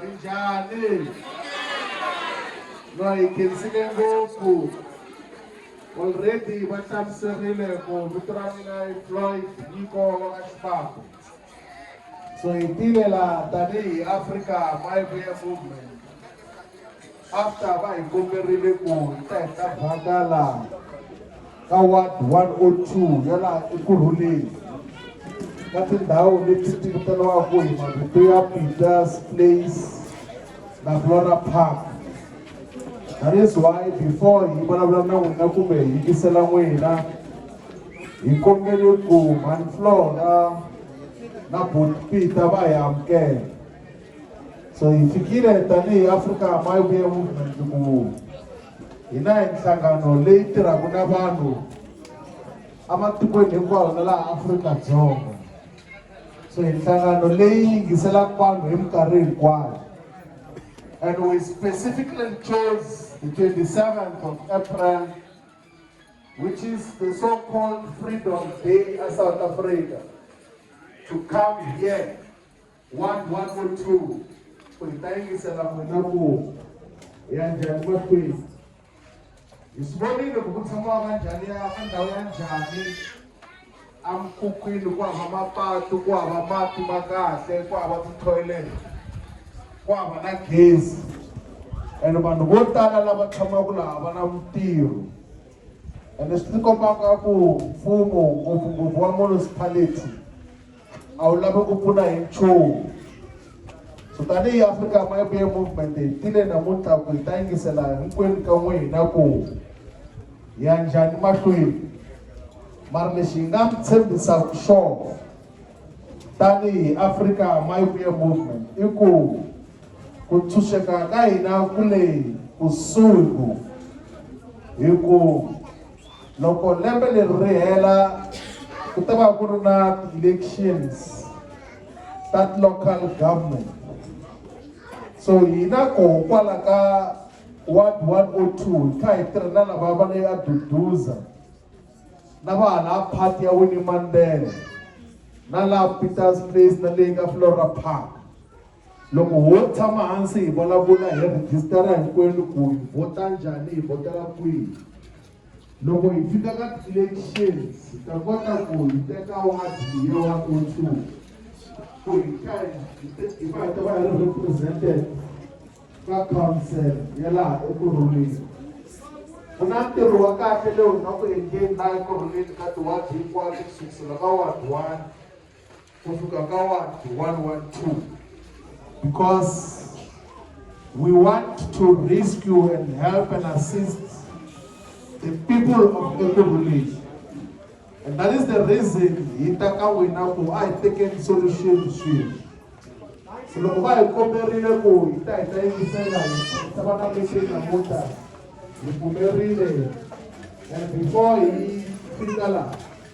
Minjhani? No hi khensile ngopfu. Already va hlamuserile ku vito ra mina i Floyd Nyiko wa ka Xibako. So hi tile laha tanihi Africa My Way Movement. After va hi komberile ku hi ta hi ta vhakala ka ward 102 ya laha ekurhuleni ka tindhawu leti ti vitaniwaka hi mavito ya peters place na flora park that is why before hi vulavula na n'wina kumbe hi yingisela n'wina hi kombele ku mhani flora na bot peter va hi amukela So hi fikile tanihi Africa Mayobe Movement ku hina hi nhlangano leyi tirhaka na vanhu ematikweni hinkwawo na laha Afrika-Dzonga. So hi nhlangano leyi yingiselaka vanhu hi minkarhi hinkwayo. And we specifically chose the 27th of April, which is the so-called Freedom Day of South Africa, to come here One, one or two. Ku hi ta yingisela n'wina ku hi ya njhani mahlweni. Hi swi vonile ku ku tshamiwa ka njhani ya ka ndhawu ya njhani emikhukhwini ku hava mapatu ku hava mati ma kahle ku hava ti-toilet ku hava na gezi ene vanhu vo tala lava tshamaka laha va na mintirho ene swi tikombaka ku mfumo ngopfungopfu wa municipality a wu lavi ku pfuna hi nchumu so tanihi africa mabiya movement hi tile namuntlha ku hi ta yingisela hinkwenu ka n'wina ku hi ya njhani mahlweni mara lexi hi nga mi tshembisaka xona tanihi africa mabiya movement i ku ku tshunxeka ka hina ku leyi kusuhi ku hi ku Loko lembe leri ri hela ku ta va ku ri na ti-elections ta local government so hina koho kwala ka ward one o oh two hi kha hi tirha na lava va le aduduza na va hala party ya winnie mandela na laha peters place na leyi ka flora park Loko ho tshama hansi hi vulavula hi rhijisitara hinkwenu ku hi vhota njhani hi vhotela kwihi loko hi fika ka ti-elections hi ta kota ku hi teka wadi ya one o two ku hi ka hi va hi ta va hi ri represented ka council ya laha ekurhuleni ku na ntirho wa kahle leyi nga ku endleni laha ekurhuleni ka tiwadi hinkwato ku sukusela ka wadi one kufika ka wadi 112 because we want to rescue and help and assist the people of Ekurhuleni. And that is the reason hi ta ka wena ku a hi tekeni solution swilo. So loko va hi komberile ku hi ta hi ta yingisela hi ta va na meeting namuntlha hi pfumerile and before hi fika laha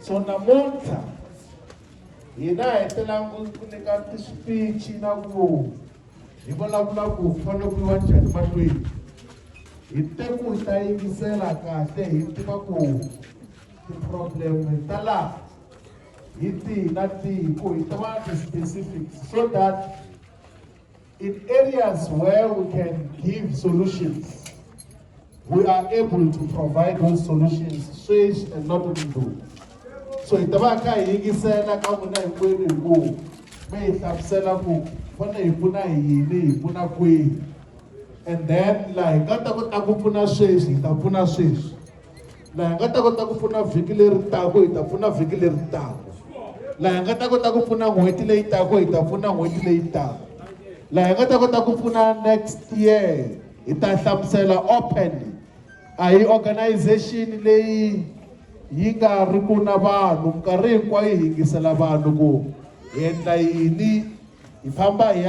so namuntlha hina hi telangu ku nyika tispichi na ku hi vulavula ku fanele ku yiwa njhani mahlweni hi te ku hi ta yingisela kahle hi tiva ku ti-problem ta laha hi tihi na tihi ku hi tiva ti-specifics so that In areas where we can give solutions, we are able to provide those solutions sweswi and not mundzuku so hi ta va kha hi yingisela ka n'wina hinkwenu hi ku mi hi hlamusela ku fane hi pfuna hi yini hi pfuna kwihi and then laha hi nga ta kota ku pfuna sweswi hi ta pfuna sweswi laha hi nga ta kota ku pfuna vhiki leri taka hi ta pfuna vhiki leri taka laha hi nga ta kota ku pfuna n'hweti leyi taka hi ta pfuna n'hweti leyi taka laha hi nga ta kota ku pfuna next year hi ta hlamusela openly a hi organization leyi yi nga ri ku na vanhu minkarhi hinkwayo hi yingisela vanhu ku hi endla yini hi famba hi ya